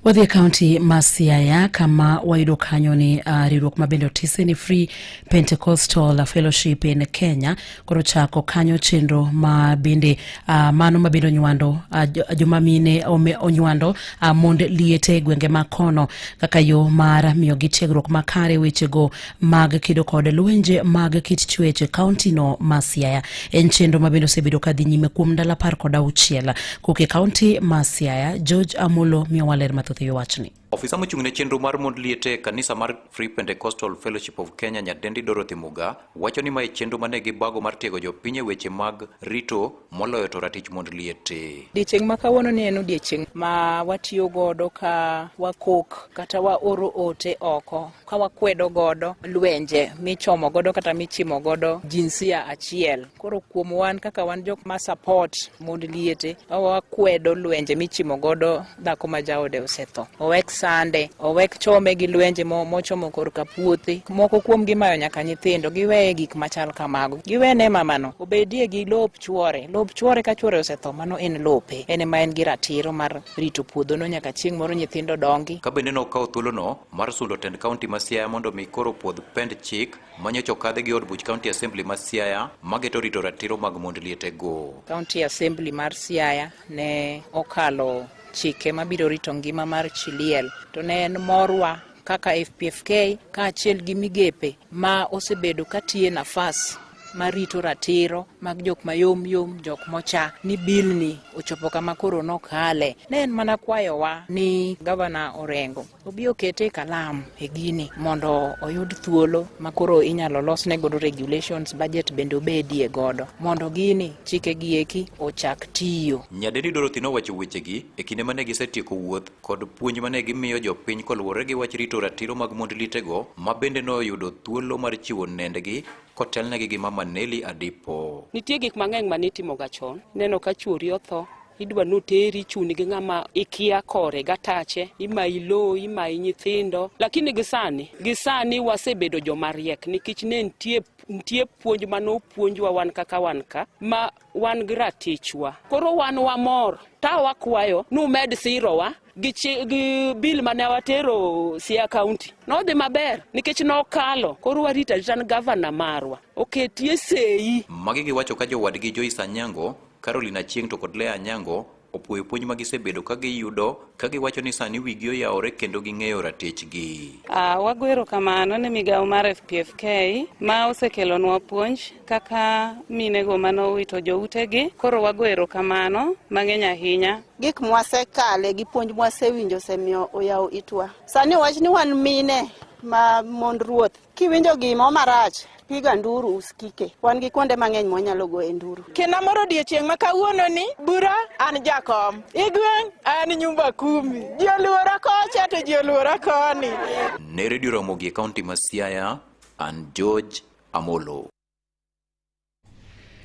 Wadhi e kaunti ma Siaya kama wayudo kanyo ni uh, riwruok ma bende otise ni Free Pentecostal Fellowship in Kenya koro chako kanyo chenro ma bende uh, mano ma bende onywando uh, joma mine onywando uh, mond liete e gwenge ma kono kaka yo mar miyogi tiegruok makare wechego mag kedo kod lwenje mag kit chuech e kauntino ma Siaya. En chenro ma bende osebedo ka dhi nyime kuom ndalo apar kod auchiel. Kok e kaunti ma Siaya, George Amolo miyo waler mathoth e wachni. Ofisa mochung' ne chenro mar mond liete e kanisa mar Free Pentecostal Fellowship of Kenya nyadendi Dorothy Muga wacho ni mae chenro mane gi bago mar tiego jopiny e weche mag rito moloyo to ratich mond liet e. Odiechieng' ma kawuono ni en odiechieng' ma watiyo godo ka wakok kata waoro ote oko ka wakwedo godo lwenje michomo godo kata michimo godo jinsia achiel. Koro kuom wan kaka wan jok ma support mond liete wakwedo lwenje michimo godo dhako ma jaode osetho owek sande owek chome gi lwenje mochomo korka puothe moko kuom gimayo nyaka nyithindo giweye gik machal kamago giwene mamano obedie gi lop chuore lop chuore ka chuore osetho mano en lope en ma en gi ratiro mar rito puodhono nyaka chieng' moro nyithindo dongi ka bende nokawo thuolono mar sundo tend kaunti ma siaya mondo mi koro puodh pend chik manyocha okadhe gi od buch kaunti assembly ma siaya mageto rito ratiro mag mond lietego kaunti assembly mar siaya Ne okalo chike mabiro rito ngima mar chi liel to ne en morwa kaka FPFK kaachiel gi migepe ma osebedo katiye nafas marito ratiro mag jok mayom yom jok mocha ni bilni ochopo kama koro nokale ne en mana kwayowa ni gavana Orengo obi okete e kalam e gini mondo oyud thuolo ma koro inyalo losne godo regulations budget bende obedie godo mondo gini chike gi eki ochak tiyo. Nyadendi Dorothy nowacho wechegi e kinde mane gisetieko wuoth kod puonj mane gimiyo jopiny koluwore gi wach rito ratiro mag mond lietego ma bende noyudo thuolo mar chiwo nendgi kotelnegi gi Mama Nelly Adipo. Nitie gik mang'eny mane itimoga chon, ineno ka chwori otho, idwa noteri chuni gi ng'ama ikia kore gatache imayi lowo imayi nyithindo lakini gisani gisani wasebedo jomariek nikech ne nitie nitie puonj ma nopuonjwa wan kaka wan ka ma wan gi ratichwa koro wan wamor ta wakwayo numed sirowa gi, gi bill mane watero Siaya County nodhi maber nikech nokalo koro warita rita ni gavana marwa oketie seyi. Magi giwacho ka jowadgi Joyce Anyango, Caroline Achieng' to kod Lea Anyango opuoyo puonj ma gisebedo ka giyudo ka giwacho ni sani wigi oyawore kendo ging'eyo ratechgi. Uh, wago erokamano ne migawo mar FPFK ma osekelonwa puonj kaka minego mane owito joutegi. Koro wago erokamano mang'eny ahinya. Gik mwasekale gi puonj mwasewinjo osemiyo oyawo itwa. Sani wach ni wan mine ma mond ruoth. Kiwinjo gimo marach, piga nduru usikike. Wan gi kuonde mang'eny mwanyalo goye nduru. Kena moro odiechieng' ma kawuono ni bura an jakom, igweng' an nyumba kumi. Ji oluora kocha to ji oluora koni. Ne redio Ramogi e kaunti ma Siaya. and George Amolo.